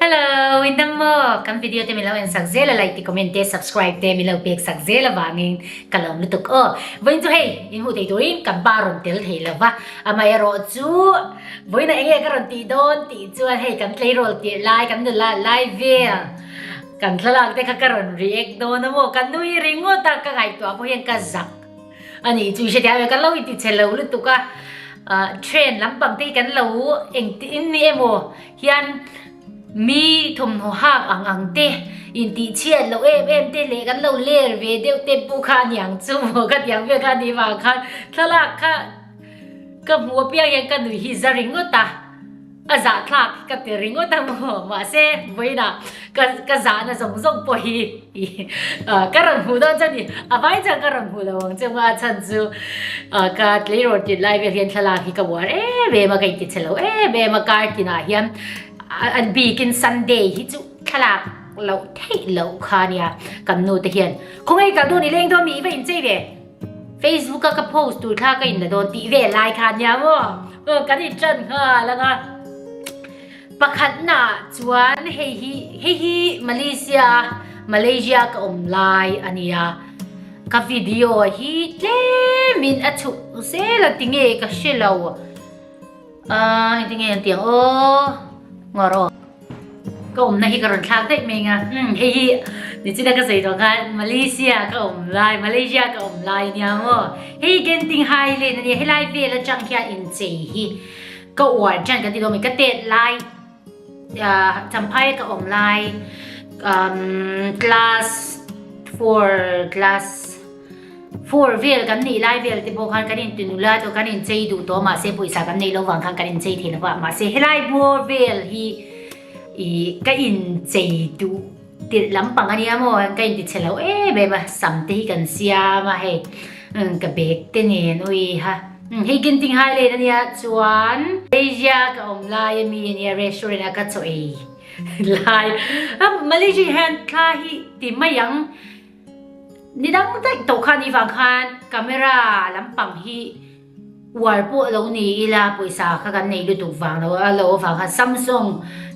Hello! I dam maw? Kan video te min lo en sak zel a, like te, comment te, subscribe te min lo pek sak zel avangin ka lawm lutuk aw. Vawiin chu hei, in hmuh theih turin kan pa rawn tel thei lo va, amah erawh chu vawiin a eng nge ka rawn tih dawn tih chuan hei kan tleirawl tirh lai, kan nula lai vel kan thlalak te kha ka rawn react dawn a maw, ka nui ringawt a, ka ngaihtuah pawh hian ka zak a nih chu i hre theih a, ka lo intihchhe lo lutuk a, train lampang te hi kan lo engtin em aw, hian mi thawmhnaw hak ang ang te, intihchhiat loh em em te leh kan lo ler ve deuh te pawh kha aniang chu maw ka tiang vel kha ni vang khan thlalak kha ka hmu apiang hian ka nuih hi za ringawt a, a zahthlak ka ti ringawt a maw mahse vawiinah. Ka ka zahna zawng zawng pawh hi ka rawn hmuh dawn chuan ni a vai chuan ka rawn hmuh lo ang chu a chhan chu ka tleirawn tir lai vel hian thlalak hi ka uar em em a ka inti chhe lo em em a kartin ah hian a bik in sunday hi chu thlalak lo theih lo kha a nia kan nu te hian khaw ngei kal dawn i leng dawn mi i va inchei ve facebook a ka post tur kha ka in la dawn tih vel lai kha a nia maw kan in tan nghal ang a Pakhatnaah chuan hei hi, hei hi Malaysia a, Malaysia ka awm lai a nia. Ka video hi tlemin a chhuk zel a tinge ka hre lo. Ahh heti nge an tih ang aw, ngawr aw. Ka awmna hi ka rawn thlak daih mai anga, umm hei hi nichina ka sawi tawh khan Malaysia a ka awm lai, Malaysia ka awm lai nia maw. Hei hi Genting Highland a nia, helai vel atang hian inchei hi. Ka uar hian ka ti lawm e, ka tet lai Champhaia ka awm lai umm class four class four vel kan nih lai vel te pawh khan kan in tunu lai tawh kan in chei duh tawh mahse pawisa kan nei lo vang khan kan in chei thei lo va mahse helai bawr vel hi ih ka in chei duh. Tirh lampang ania maw ang ka intichhe lo em em a, sam te hi kan siam a hei, umm ka bag te nen ui ha, umm hei Genting Highland ania chuan Malaysia ka awm lai ami ania restaurant a ka chaw ei lai a, Malaysia hian thla hi ti mai ang, nidang daih tawh khan ni vang khan camera lampang hi, Uar pawh lo ni ila pawisa kha kan nei lutuk vang lo a lo avang kha Samsung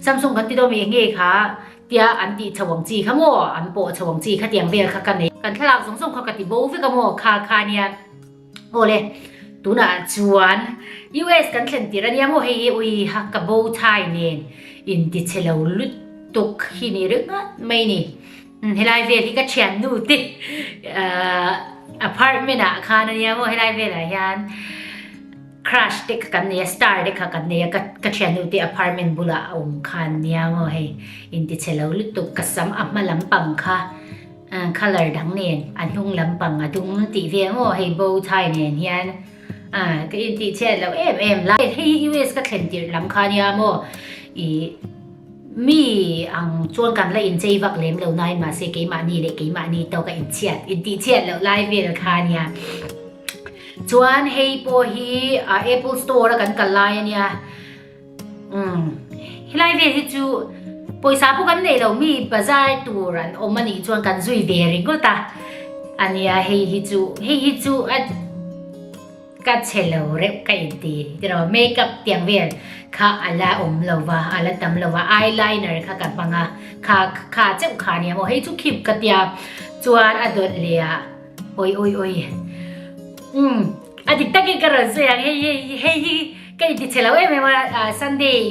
Samsung kan ti dawn mai enge kha tia an tih chho ang chi kha maw an pawh chho ang chi kha tiang vel kha ka nei kan thlalak zawng zawng kha ka ti bo vek a maw kha kha nia awle tunah chuan US kan thlen tir ania maw hei hi ui ha ka bo thai nen in ti chhe lo lutuk hi ni ringa mai ni. Helai vel hi ka thiannu te ahh apartment ah khan a nia maw helai vel ah hian crush te kha kan nei a star te kha kan nei a ka ka thiannu te apartment bul ah a awm khan nia maw hei intichhe lo lutuk ka sam a hma lam pang kha ahh colour dang nen a hnung lam pang a dum tih ve a maw hei bow tie nen hian ahh ka intihchhiat loh em em la hei hi US ka thlen tirh lam kha nia maw ih. Mi ang chuan kan la inchei vak lem lo nai mahse keimahni leh keimahni tawk a inchhiat intihchhiat loh lai vel kha a nia. Chuan hei pawh hi Apple Store a kan kal lai a nia. Um, helai vel hi chu pawisa pawh kan nei lo mi bazar tur an awm a nih chuan kan zui ve ringawt a. A nia hei hi chu, hei hi chu a. Ka chhe lo reuh ka inti tiraw makeup tiang vel kha a la awm lo va a la tam lo va eyeliner kha ka hmang a kha kha cheuh kha nia maw hei chu khip ka tia chuan a dawlh leh a awi awi awi umm a dik takin ka rawn zui ang hei hei hei hi ka inti chhe lo em em a Sunday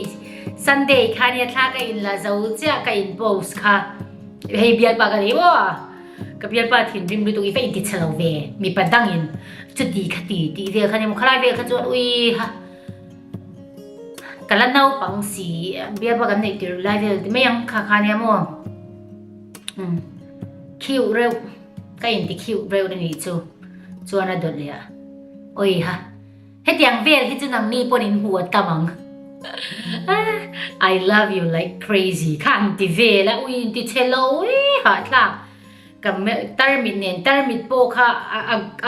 Sunday khania thla ka in la zo chiah ka in post kha hei bialpa ka nei maw. Ka bialpa thinrim lutuk i ka inti chhe lo ve, mipa dangin chuti kha ti tih vel khan emaw khalai vel kha chuan ui ha ka la naupang si bialpa kan neih tirh lai vel ti mai ang kha khan emaw um khiu reuh ka inti khiu reuh a nih chu chuan a dawt leh a ui ha. Hetiang vel hi chu nang ni pawn in huat kam ang. I love you like crazy kha an ti vel a ui in ti che lo e hahthlak ka melh tarmit nen tarmit pawh kha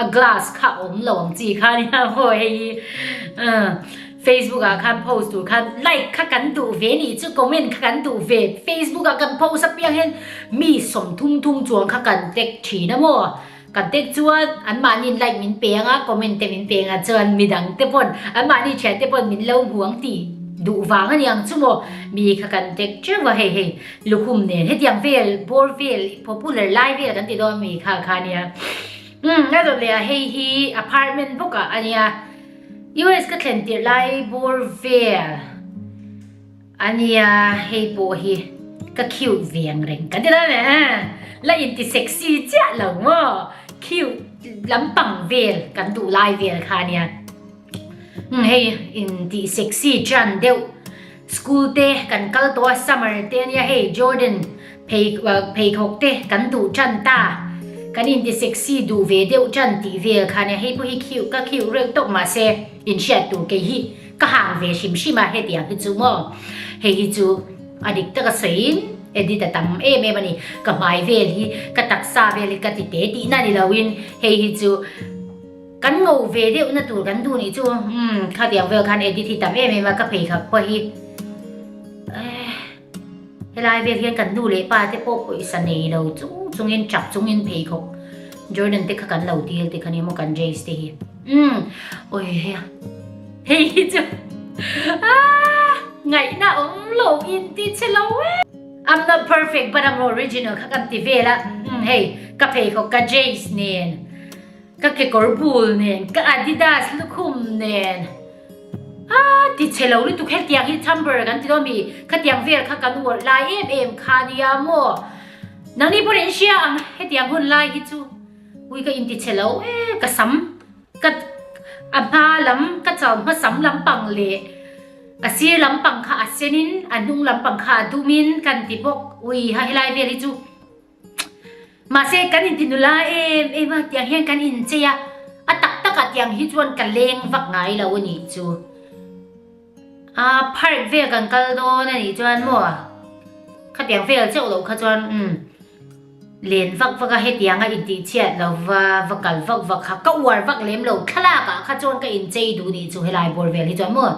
a glass kha awm lo ang chi kha ni a haw hei hi Facebook ah khan post tur khan like kha kan duh ve ni chu comment kha kan duh ve Facebook ah kan post apiang hen mi sawm thum thum chuang kha kan tek thin a maw Kan tek chuan anmahni'n like min peng a, comment te min pengah chuan midang te pawn anmahni thian te pawn min lo hmu ang tih duh vang a ni ang chu maw? Mi kha kan tek teuh a hei hei lukhum nen hetiang vel bawr vel popular lai vel kan ti dawn mi kha kha nia umm la zawh leh a hei hi apartment bawkah a nia US ka thlen tirh lai bawr vel. A nia, hei pawh hi ka cute veng reng ka ti dang eh, la inti sexy chiah lo maw? Cute lampang vel kan duh lai vel kha nia, hmm hei inti sexy chian deuh school te kan kal tawh a summer te nia hei Jordan phei pheikhawk te kan duh tan ta, kan inti sexy duh ve deuh tan tih vel kha nia, hei pawh hi cute ka cute reuh tawh mahse inhriat tur kei hi Ka hang ve hrim hrim a hetiang hi chu maw? Hei hi chu a dik taka sawiin edit a tam em em a ni. Ka hmai vel hi, ka taksa vel hi ka ti te tihna ni loin hei hi chu kan ngo ve deuhna tur kan duh nih chu umm khatiang vel khan edit hi tam em em a ka phei khak pawh hi. Helai vel hian kan nu leh pa te pawh pawisa nei lo chung chungin chak chung in pheikhawk Jordan te kha kan lo dil te kha ni maw kan Jace te hi umm awii hea hei hi chu aah ngaihna awm lo inti che lo e I'm not perfect but I'm original kha kan ti vel a umm hei ka pheikhawk ka Jace nen. Ka kekawr bul nen, ka Adidas lukhum nen, a ti chhe lo lutuk hetiang hi chamber kan tilo mi khatiang vel kha kan uarh lai em em kha nia maw? Nangni pawn in hria ang hetiang hun lai hi chu ui ka inti chhe lo e ka sam ka a hma lam ka chau hmasam lampang leh a sir lampang kha a senin a hnung lampang kha a dumin kan ti bawk ui ha helai vel hi chu. Mahse, kan intinu la em em a tiang hian kan inchei a, a tak tak a tiang hi chuan ka leng vak ngai lo a nih chu. A phark vel kan kal dawn a nih chuan maw khatiang vel chauh lo kha chuan um len vak vak a hetiang a intihchhiat lo va va kal vak vak kha ka uar vak lem lo thlalak ah kha chuan ka inchei duh nih chu helai bawr vel hi chuan maw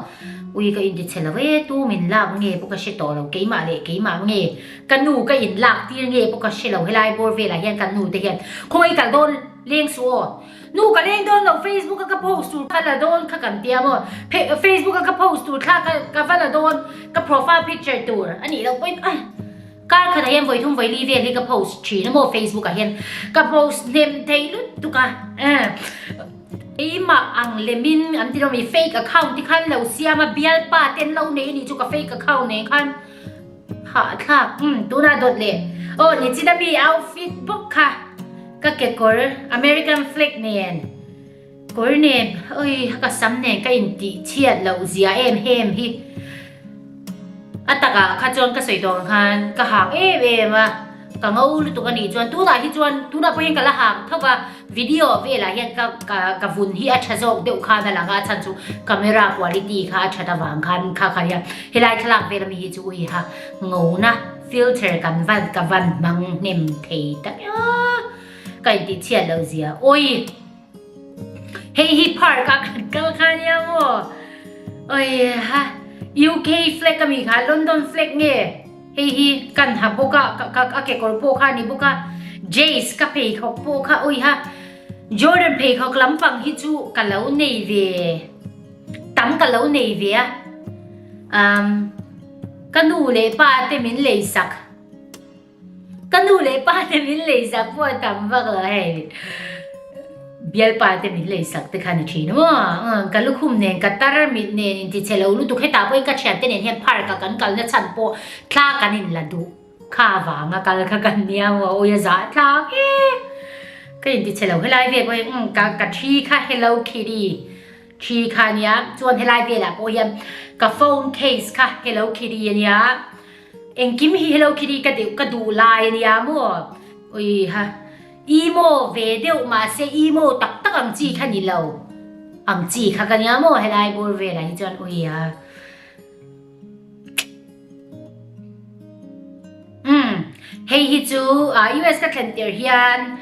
ui ka intichhe lo e tum in lak nge pawh ka hre tawh lo keimah leh keimah nge Ka nu ka in lak tir nge pawh ka hre lo helai bawr velah hian kan nu te hian khaw ei kal dawn leng suh aw nu ka leng dawn lo facebook a ka post tur ka la dawn kha kan tia maw facebook a ka post tur thla ka ka va la dawn ka profile picture tur a nih loh pawhin ai kar khatah hian vawithum vawili vel hi ka post thin a maw facebook ah hian ka post hnem thei lut tuk a eh eima ang lemin an tilo mi fake account te khan lo siam a bial pa ten lo nei a nih chu ka fake account nen khan Hah a thlak, umm tunah dawt leh. Aw ni chin a mi outfit bawk kha ka kekawr American flag nen, kawr nen awi ka sam nen ka intih chhiat loh zia em hem hi. A takah kha chuan ka sawi tawng ang khan ka hak em em a, ka ngo lutuk a nih chuan tunah hi chuan tunah pawh hian ka la hak thawk a. Video velah hian ka ka ka vun hi a tha zawk deuh khan a lang a, a chhan chu camera quality kha a that avang khan kha ka ria. Helai thlalak vel ami hi chu ui ha ngo na filter kan van ka van hmang hnem thei ta a ka intih chhiat lo zia ui hei hi par ka kan kal kha nia maw ui ha UK flag ami kha London flag nge Hei hi ka hnah bawk a, a kekawr pawh kha a ni bawk a, Jace ka pheikhawk pawh kha awi ha, Jordan pheikhawk lampang hi chu ka lo nei ve, tam ka lo nei ve a, umm ka nu leh pa te min lei sak, ka nu leh pa te min lei sak pawh a tam vak lo a hei. Bialpa te min lei sak te khan a thin aw a, ka lukhum nen ka tar mit nen in ti che lo lutuk hetah pawhin ka thian te nen hian park a kan kal na chhan pawh thla kan in la duh kha avang a kal kha kan nia aw aw ia zah tlang e ka in ti che lo helai vel pawhin umm ka ka thi kha hello Kitty thi kha a nia chuan helai velah pawh hian ka phone case kha hello Kitty a nia engkim hi hello Kitty ka deuh ka duh lai a nia maw ui ha Imo ve deuh mahse imo tak tak ang chi kha nilo. Ang chi kha ka nia maw helai bur velah hi chuan ui a. Umm, hei hi chu US ka thlen tir hian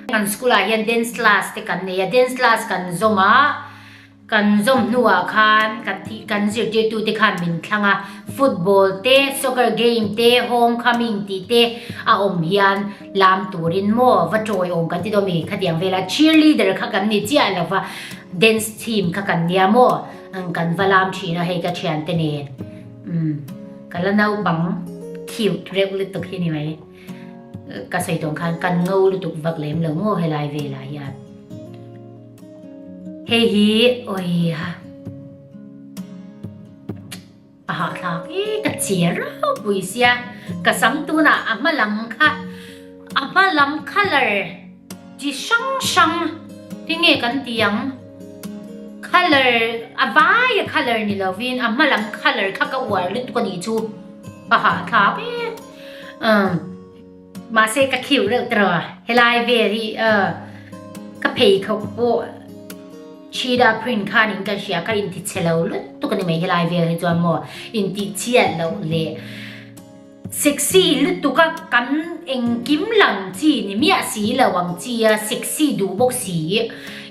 kan school ah hian dance class te kan nei a, dance class kan zawm a, Kan zawm hnuah khan kan thih kan zirtirtute khan min thlang a, football te, soccer game te, home coming tih te a awm hian lam turin maw va tawi awm kan ti dawn mi khatiang vel a, cheerleader kha kan ni chiah lo va, dance team kha kan nia maw ang kan va lam thin a hei ka thian te nen umm ka la naupang cute reuh lutuk hi ni mai ka sawi tawn khan kan ngo lutuk vak lem lo maw helai velah hian. Hei hi oi ha. A ha thlak e ka chhiar rau pui sia. Ka sam tuna a hma lam kha a hma lam colour chi hrang hrang hi nge kan ti ang colour a vai a colour ni lovin a hma lam colour kha ka uar lut ka nih chu. A ha thlak e. Umm. Mahse ka thliu reuh tawh a, helai vel hi ka phei thawk pawh Chida Print khan in ka hria ka inti chhe lo lutuk a ni mai helai vel hi chuan maw inti chhiat loh leh sexy lutuk a kan engkim lang chi ni miah si lo ang chi a sexy duh bawk si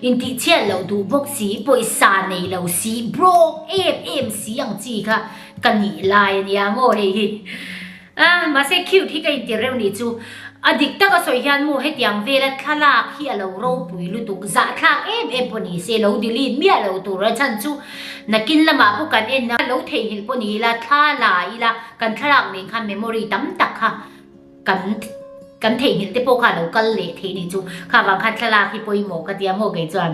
inti chhiat loh duh bawk si pawisa nei lo si brawk em em si ang chi kha ka nih lai a nia a ngaw hei hi. A, mahse cute hi ka intir reuh nih chu. A dik taka sawi hian maw hetiang vela thlalak hi a lo ropui lutuk zahthlak em em pawh ni se lo delete miah lo tura chhan chu nakin lamah pawh kan en a lo theihnghilh pawh ni ila thla la ila kan thlalak nen khan memory tam tak kha kan kan theihnghilh te pawh kha lo kal leh theih nih chu kha vang khan thlalak hi pawimawh ka tia maw kei chuan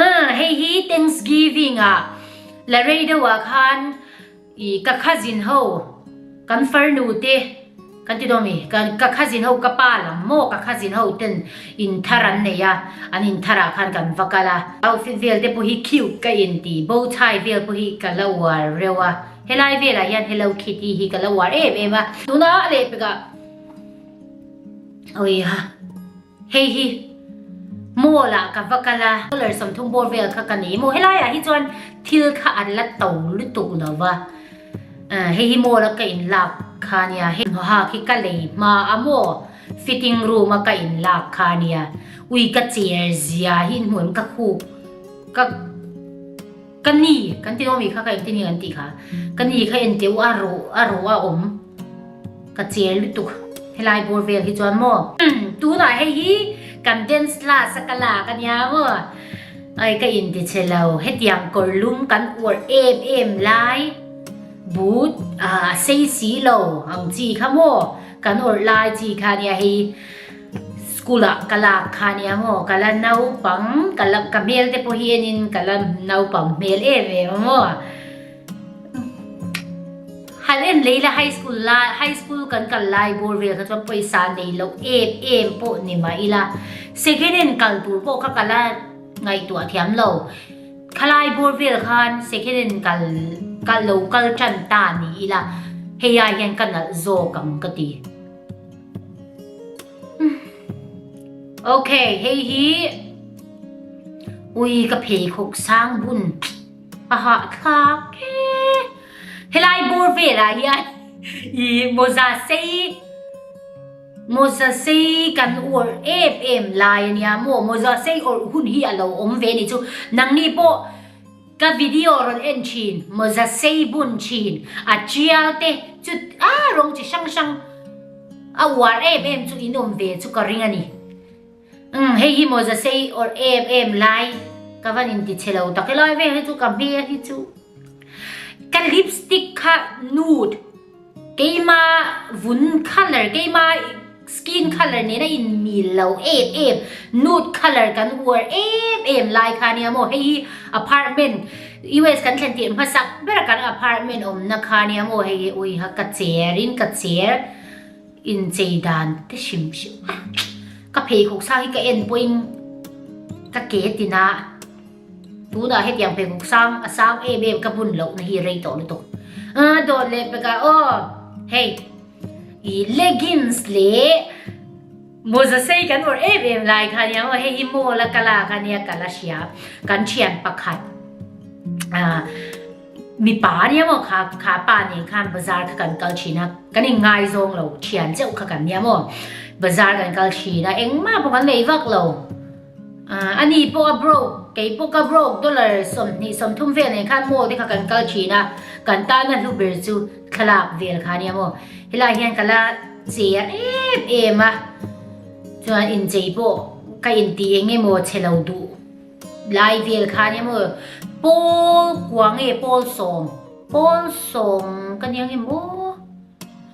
a hei hi thanksgiving a la rei deuhah khan I ka cousin ho kan farnu te kan ti dawn mi ka cousin ho ka pa lam maw ka cousin ho ten in thar an nei a an in thar ah khan kan va kal a outfit vel te pawh hi cute ka in ti bow tie vel pawh hi ka la uar reuh a helai vel ah hian hello kitty hi ka la uar em em a tunah a leh pek ah awii ha. Hei hi mall ah ka va kal a, dollar sawmthum bawr vel kha ka nei maw? Helai ah hi chuan thil kha an la to lutuk lo va, eh hei hi mall a ka in lak kha nia, hei hnuha khi ka lei hma a maw, fitting room a ka in lak kha nia, ui ka cher zia hi hnuaim ka khuk ka. Ka ni, kan tih awmi kha ka engtin hi kan tih kha. Ka ni kha enteu a rawh a rawh a awm. Ka chêr lutuk helai bâwl vêl hi chuan maw? Tûnah hei hi kan dance class a ka lâk a nia maw? Ai ka inti che lo, hetiang kawrlum kan uar êm êm lai but a sei si lo ang chi kha maw? Kan awrh lai chi kha nia hei hi. School ah ka lak kha nia ang aw ka la naupang ka la ka hmel te pawh hian in ka la naupang hmel em em ang aw hal en lei la high school la high school kan kal lai bawr vel kha chuan pawisa nei loh em em pawh ni mah ila second hand kal tur pawh ka kal a ngaihtuah thiam lo khalai bawr vel khan second hand kal kal lo kal tan ta ni ila hei a hian ka nalh zawk ang ka ti. ok hei hi ui ka phei khawk sang bun a ha thlak e helai bur vela hian i moza sei moza sei kan ur em em lai ania mo moza sei ur hun hi alo om ve ni chu nang ni pawh Ka video rawn en thin maw za sei bun thin a tial te chu aa rawng chi hrang hrang a uar em em chu in awm ve chu ka ring a ni umm hei hi maw za sei or em em lai ka van in ti che lo tak e lai ve hei chu ka hmea hi chu ka lipstick kha nude Keima vun colour, keima skin colour nen a inmil lo em em. Nude colour kan uar em em lai kha nia maw? Hei hi apartment, US kan thlen tirh hmasak bera kan apartment awmna kha nia maw? Hei hi ui ha ka cher in ka cher inchei dan te hrim hrim a. Ka pheikhawk sang hi ka en pawhin ka ke tina. Tunah hetiang pheikhawk sang a sang em em ka bun lohna hi rei tawh lutuk. Aa dawn leh peka aw. Hei i leggings leh mawza sei kan awrh em em lai kha nia aw hei hi mall a ka lak a nia ka la hria. Kan thian pakhat ah mipa nia maw kha kha pa nen khan bazar kha kan kal thin a kan in ngai zawng lo thian cheuh kha kan nia maw bazar kan kal thin a engmah pawh kan nei vak lo. Ani pawh a broke, kei pawh ka broke, dollar sawmhnih sawmthum vel nei khan mall te kha kan kal thin a, kan tana hlu ber chu thlalak vel kha nia maw. Helai hian ka la che a em em a, chuan inchei pawh ka inti eng nge maw che lo duh lai vel kha nia maw. Pawl kua nge pawl sawm, pawl sawm ka nia nge maw.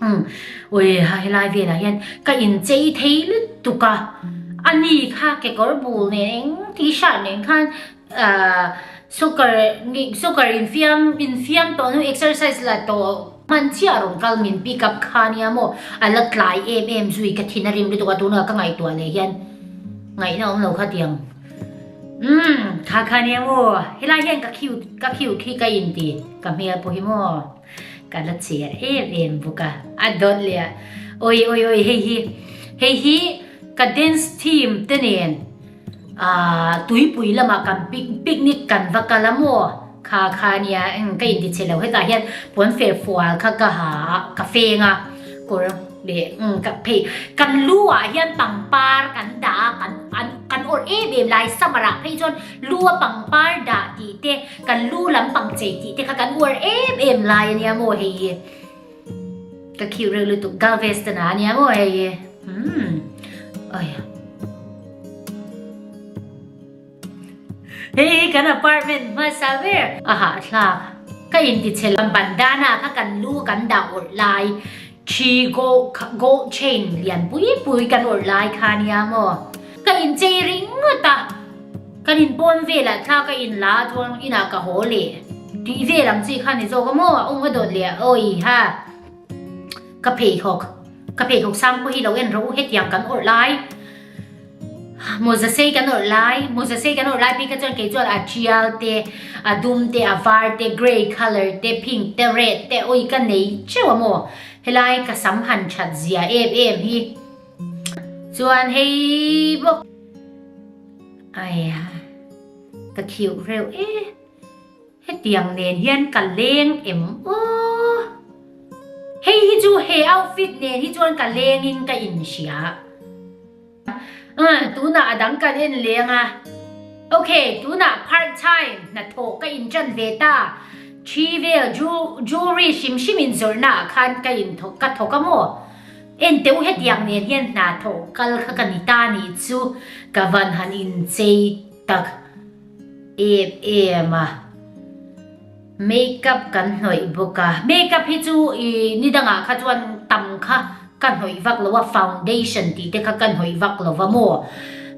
Umm, ui, ha helai velah hian ka inchei thei lutuk a, ani kha kekawr bul nen eng t-shirt nen khan soccer nih soccer infiam infiam tawh nu exercise la tawh hman chiah rawn kal min pick up kha nia maw a la tlai em em zui ka thin a rim lutuk a tunah ka ngaihtuah leh hian ngaihna awm lo kha tiang umm kha kha nia maw helai hian ka khiu ka khiu khi ka inti ka hmel pawh hi maw Ka la chhiar em em bawk a. A dawt leh a, Awi awi awi hei hi, hei hi ka dance team te nen aah tuipui lamah kan picnic kan va kal a maw? Kha kha nia eng ka inti chhe lo hetah hian puanfer fual kha ka ha a, ka feng a kawr leh umm ka phei kan lu ah hian pangpar kan dah a kan an kan awrh em em lai summer ah phei chuan lu a pangpar dah tih te, Kan lu lam pang chei tih te kha kan uar em em lai a nia maw hei e. Ka khiu reuh lutuk Galveston ah a nia maw hei e. Umm. Aia. Hei hi kan apartment hmasa ber. Aha thlak. Ka intichhe lam ban dana kha kan lu kan dah awrh lai. Thi gold gold chain lian pui pui kan awrh lai kha nia maw? Ka inchei ringawt a, kan in pawn velah thla ka in la a chuan inah ka haw leh tih vel ang chi kha ni zawk a maw a awm a dawt leh awi ha ka pheikhawk ka pheikhawk sang pawh hi lo en ro u hetiang kan awrh lai. Maw zasei kan awrh lai, maw zasei kan awrh lai bik a chuan kei chuan a tial te, a dum te, a var te, grey colour te, pink te, red te, awi ka nei teuh a maw. Helai ka sam han that zia em em hi. Chuan hei bawk. Aia ka khiuh reuh e. Hetiang nen hian ka leng em aw. Hei hi chu he outfit nen hi chuan ka lengin ka inhria. Umm, tunah a dang kan en leng a. Ok, tunah part time hnathawh ka inṭan ve ta. Ṭhi vel jewelry hrim hrim inzawrhnaah khan ka in thawk, ka thawk a maw? Enteu hetiang nen hian hnathawh kal kha ka ni ta nih chu ka van han inchei tak em em a makeup kan hnawih bawk a makeup hi chu ih ni dangah kha chuan tam kha ka hnawih vak lo a foundation tih te kha ka hnawih vak lo va maw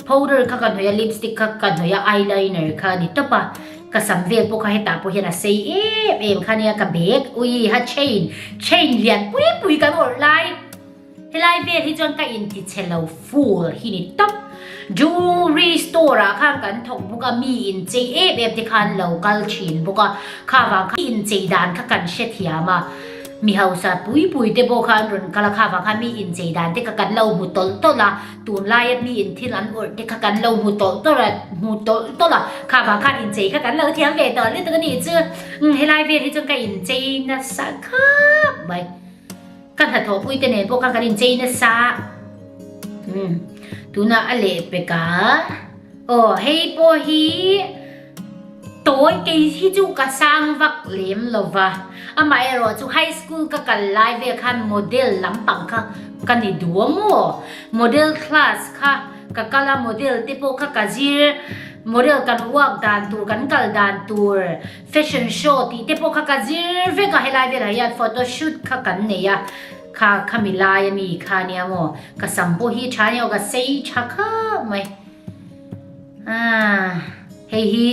powder kha ka hnawih a lipstick kha ka hnawih a eyeliner kha a ni tawp a ka sam vel pawh kha hetah pawh hian a sei em em kha nia ka bag ui ha chain chain lian pui pui kan awrh lai. Helai vel hi chuan ka intichhe lo fool hi ni tawp. Jewelry store ah khan kan thawk bawk a, mi inchei em em te khan lo kal thin bawk a, kha vang khan inchei dan kha kan hre thiam a, mi hausa pui pui te pawh khan rawn kal a, kha vang khan mi inchei dan te kha kan lo hmu tawlh tawlh a, tun lai a mi in thil an awrh te kha kan lo hmu tawlh tawlh a, hmu tawlh tawlh a, kha vang khan inchei kha kan lo thiam ve tawh lutuk a nih chu. Helai vel hi chuan ka inchei nasa khap mai. Ka hnathawhpui te nen pawh kha kan inchei nasa. Umm tunah a leh pek a. Aw hei pawh hi tawi kei hi chu ka sang vak lem lo va. Amaherawh chu high school ka kal lai vel khan model lampang kha ka ni duam maw. Model class kha ka kal a, model te pawh kha ka zir. Model kan uak dan tur, kan kal dan tur. Fashion show tih te pawh kha ka zir vek a, helai velah hian photo shoot kha kan nei a, kha khami lai ami kha nia maw, ka sam pawh hi tha nia aw ka sei tha khap mai. Aaa hei hi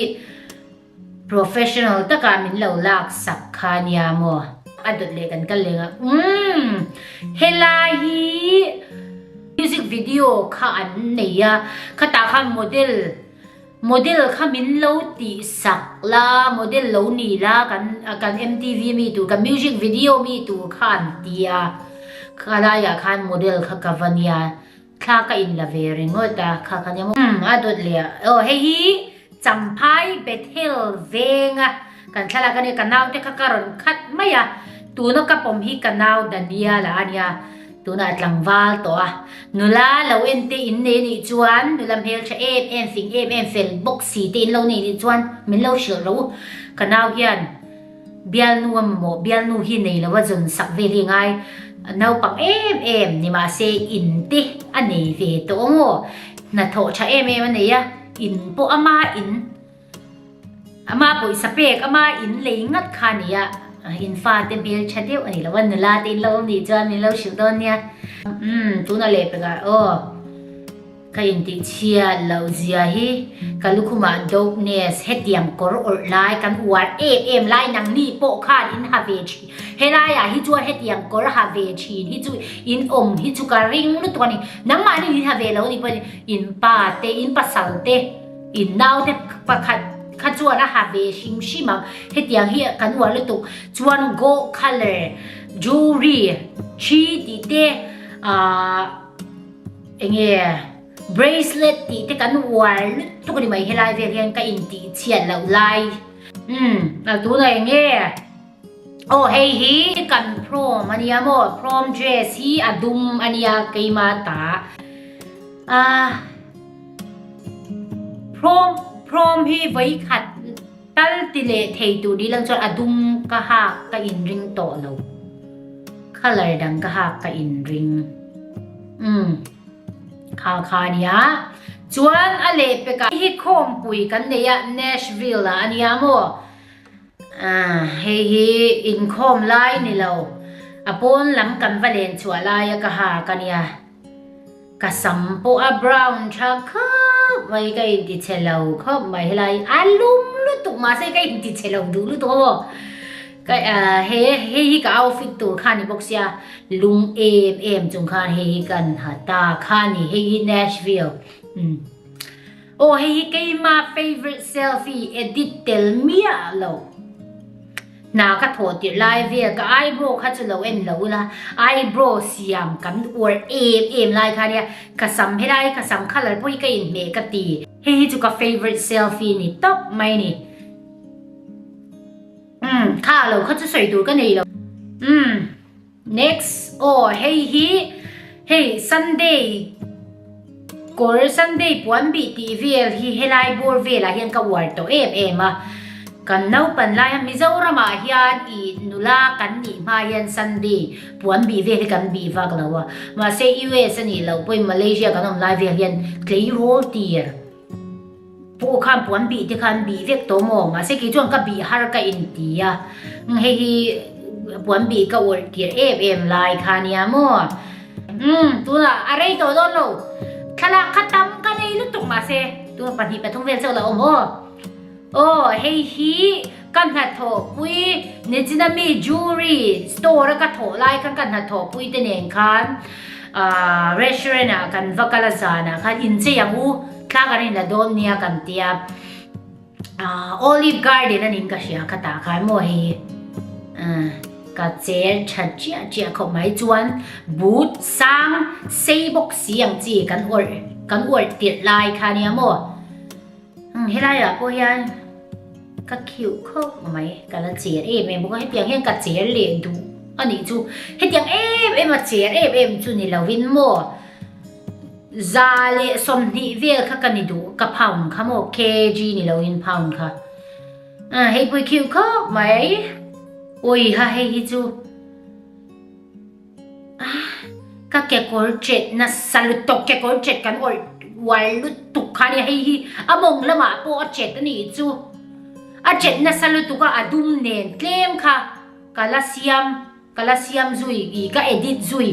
professional taka min lo lak sak kha nia maw. A dawt leh kan kal leng a umm helai hi music video kha an nei a, khatah khan model. Model kha min lo tih sak la, model lo ni la kan kan mtv mi tur kan music video mi tur kha an ti a, kha laiah khan model kha ka va nia, thla ka in la ve ringawt a, kha ka nia maw? Umm a dawt leh a, aw hei hi Champhai Bethel venga. Kan thlalak a ni, ka naute kha ka rawn khat mai a, tuna ka pawm hi ka nau Daniela a nia, tunah a tlangval tawh a. Nula lo ente in nei anih chuan, nula hmeltha em em, fing em em fel bawk si te in lo nei anih chuan min lo hrilh ro u. Ka nau hian bialnu a mamawh, bialnu hi nei lo a zawn sak vel hi a ngai, naupang em em, nimahse in te a nei ve tawh ang aw, hnathawh tha em em a nei a, in pawh ama in. Amah pawisa pek ama in lei ngat kha nia in fa te hmel tha deuh ani lo a nula te in lo awm nih chuan min lo hrilh dawn nia umm tuna leh pekah aw ka in tih chhiat lo zia hi ka lukhuma dopeness hetiang kawr awrh lai kan uar em em lai nang ni pawh khan in ha ve thin helai ah hi chuan hetiang kawr ha ve thin hi chu in awm hi chu ka ring lutuk ani nangmah ni in ha ve lo ni pawh in pa te in pasal te In naute pakhat kha chuan a ha ve hrim hrim ang, hetiang hi kan uar lutuk chuan gold colour jewelry thi tih te ahh eng nge bracelet tih te kan uar lutuk a ni mai helai vel hian ka intihchhiat loh lai umm tunah eng nge. Aw hei hi kan prom a nia maw prom dress hi a dum a nia keima ta a prom prom hi vai khat tal ti le thei tur di lang chuan a dum ka hak ka in ring tawh lo color dang ka hak ka in ring um kha kha nia chuan a leh peka hi khawm pui kan nei a Nashville a ania maw Hei hi inkhawm lai ni lo. A pawn lam kan va len chhuah lai a ka ha ka nia. Ka sam pawh a brown tha khawp mai ka inti chhe lo khawp mai helai a lum lutuk mahse ka inti chhe lo duh lutuk amaw. Hei hei hi ka outfit tur kha ni bawk sia lung em em chung khan hei hi ka han ha ta kha ni hei hi Nashville. Aw hei hi keima favourite selfie edit tel miah lo hna ka thaw tirh lai vel ka eyebrow kha chu lo en lo la eyebrow siam kan uar em em lai kha nia ka sam helai ka sam colour pawh hi ka in hmeh ka ti hei hi chu ka favourite selfie ni tawp mai ni um kha lo kha chu sawi tur ka nei lo um Next aw hei hi hei Sunday kawr Sunday puan bih tih vel hi helai bawr velah hian ka uar tawh em em a. Kan naupan laia Mizoramah hian i nula kan nih hma hian Sunday puan bih vel hi kan bih vak lo a. Mahse US a nih loh pawhin Malaysia kan awm lai vel hian tleirawl tir. Pu Ukhan puan bih te khan bih vek tawh maw, mahse kei chuan ka bih har ka inti a, hei hi puan bih ka awlh tirh em em lai kha a nia maw? Umm, tunah a rei tawh dawn lo, thlalak kha tam ka nei lutuk mahse tunah pahnih pathum vel chauh lah awm aw. Aw hei hi ka hnathawhpui Nijinami jewellery store a ka thawh lai khan ka hnathawhpui te nen khan ahh restaurant ah kan va kal a zan ah khan inchei ang u thla kan inla dawn nia kan ti a ahh olive garden anin ka hria kha tah khan maw hei hi ahh ka chel tha chiah chiah khawp mai chuan but sang sei bawk si ang chi kan awrh kan awrh tirh lai kha nia maw Helai ah pawh hian ka khiuh khawp mai, ka la chêr êm êm bawk a, hetiang hian ka chêr leh duh a nih chu. Hetiang êm êm a chêr êm êm chu ni lovin maw, za leh sawmhnih vêl kha ka ni duh, ka pound kha maw, KG ni lovin pound kha. Aaa, heipui khiuh khawp mai, awi ha hei hi chu. Ka kekawr ṭet nasa lutuk kekawr ṭet kan awrh uar lutuk kha nia hei hi a mawng lamah pawh a ṭet a nih chu a ṭet nasa lutuk a a dum nen tlem kha ka la siam ka la siam zui ih ka edit zui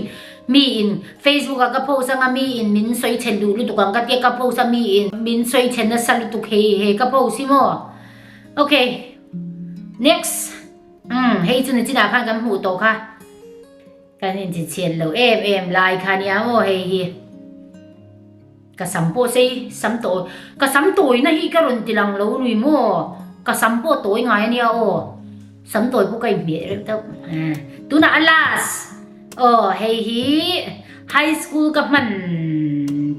mi in Facebook ah ka post anga mi in min sawi chhen duh lutuk ang ka ti a ka post a mi in min sawi chhen nasa lutuk hei hei ka post hi maw ok next Umm, hei chu ni chinah khan kan hmuh tawh kha. Kan inchichhiat lo em em, lai kha nia aw hei hi. Ka sam pawh se i, sam tawh aw. Ka sam tawina hi ka rawn ti lang lo nui maw? Ka sam pawh tawi ngai ania aw. Sam tawi pawh ka inhmeh reuh deuh. Tunah a last. Aw hei hi high school ka hman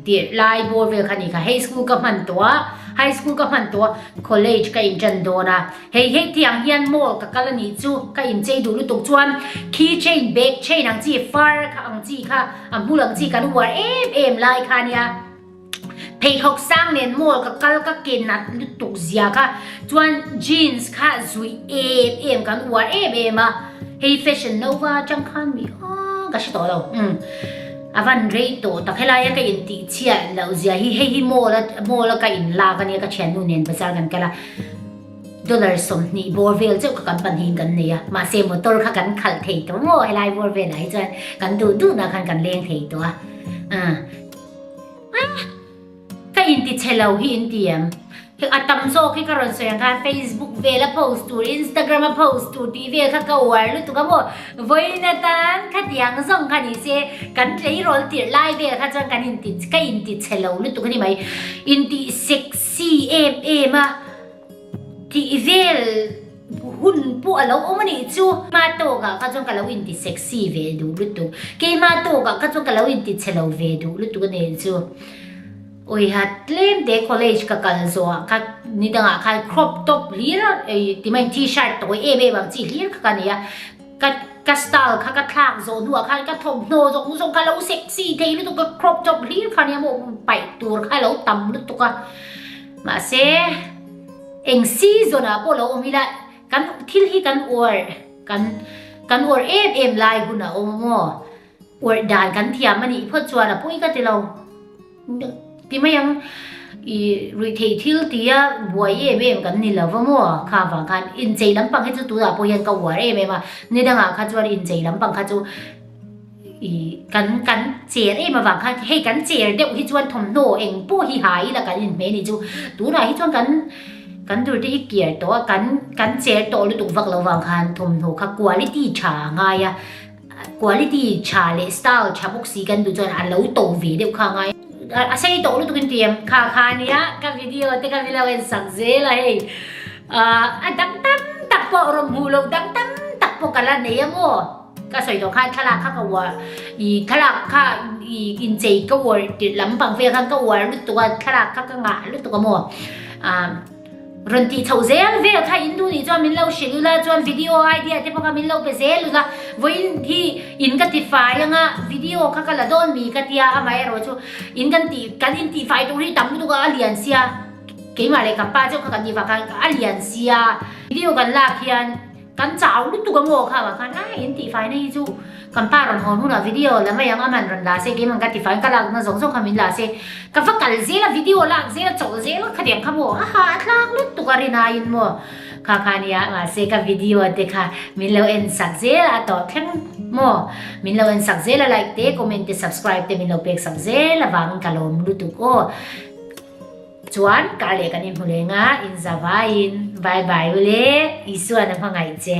tih lai bawr vel kha ni kha high school ka hman tawh a high school ka hman tawh a college ka in tan dawn a hei hei ti ang hian mall ka kal a nih chu ka in chei duh lutuk chuan key chain bag chain ang chi far kha ang chi kha a hmul ang chi kan uar em em lai kha nia Pheikhawk sang nen maw ka kal ka ken a lutuk zia kha chuan jeans kha zui em em kan uar em em a hei fashion nova chang khan mi a ka hre tawh lo um avan rei to tak helai a ka in ti chhia lo zia hi hei hi mall a mall a ka in lak ania ka thian nu nen bazar kan kala dollar som ni bor vel cheu ka kan pan hin kan nei a ma se motor kha kan khal thei to maw helai bor vel ai chuan kan du du na khan kan leng thei to a Ka inti chhe lo hi inti em? A tam zawk hi ka rawn sawi ang kha Facebook vel a post tur Instagram a post tur tih vel kha ka uar lutuk a maw? Vawiina tan khati ang zawng kha ni se kan tleirawl tirh lai vel kha chuan kan inti ka inti chhe lo lutuk a ni mai. Intih sexy em em a tih vel. hun pawh a lo awm a nih chu. Hma tawkah kha chuan ka lo inti sexy ve duh lutuk. Keima tawkah kha chuan ka lo inti chhe lo ve duh lutuk a nih chu. Awia tlemte college ka kal zawhah kha ni dangah kha crop top hlir tima in t-shirt tawi em em ang chi hlir kha ka nei a. Ka ka style kha ka thlak zawh hnuah khan ka thawmhnaw zawng zawng kha lo sexy thei lutuk ka crop top hlir kha ania maw paih tur kha a lo tam lutuk a. Mahse. Eng si zawlah pawh lo awm ila, kan thil hi kan uar, kan kan uar em em lai hun a awm maw? Uar dan kan thiam a nih phawt chuan a pawi ka ti lo. Ti mai ang, i ruih theih thil tia buai em em kan ni lova maw? Kha avang khan inchei lampang hi chu tunah pawh hian ka uar em em a, ni dangah kha chuan inchei lampang kha chu, Kan kan cher em avang khan hei kan cher deuh hi chuan thawmhnaw eng pawh hi ha ila kan inhmeh ni chu tunah hi chuan kan kan durte hi kiar tawh a kan kan cher tawh lutuk vak lo vang khan thawmhnaw kha quality tha a ngai a quality tha leh style tha bawk si kan duh chuan a lo to ve deuh kha a ngai a a sei tawh lutuk in tui em kha kha nia ka video te ka milo en sak zel a hei a dang tam tak pawh rawmhmuh lo dang tam tak pawh ka la nei a maw. Ka sawi tawh khan thlalak kha ka uar i thlalak kha i inchei ka uar tirh lampang vel khan ka uar lutuk a thlalak kha ka ngah lutuk a maw ah rawn tih chhoh zel vel kha in nu nih chuan min lo hrilh ula chuan video idea te pawh kha min lo pe zel ula vawiin hi in ka tifai anga video kha ka la dawn mi ka tia amah erawh chu in kan tih kan in tihfai tur hi tam lutuk a a lian sia keimah leh ka pa chu kha kan tihfai khan a lian sia video kan lak hian Kan chau lutuk a maw kha vah khan a in tihfaina hi chu kan pa rawn hawn hunah video la mai ang a man rawn la se keim ang ka tifain ka lakna zawng zawng kha min la se ka va kal zel a video a lak zel a chawlh zel kha tiang kha maw aha a tlak lutuk a rin aiin maw kha kha nia mahse ka video te kha min lo en sak zel a tawh thleng maw min lo en sak zel a like te comment te subscribe te min lo pek sak zel avangin ka lawm lutuk aw Chuan ka leh kan inhmu leng a in zavaiin bye bye ule Isuan a hmangaih che.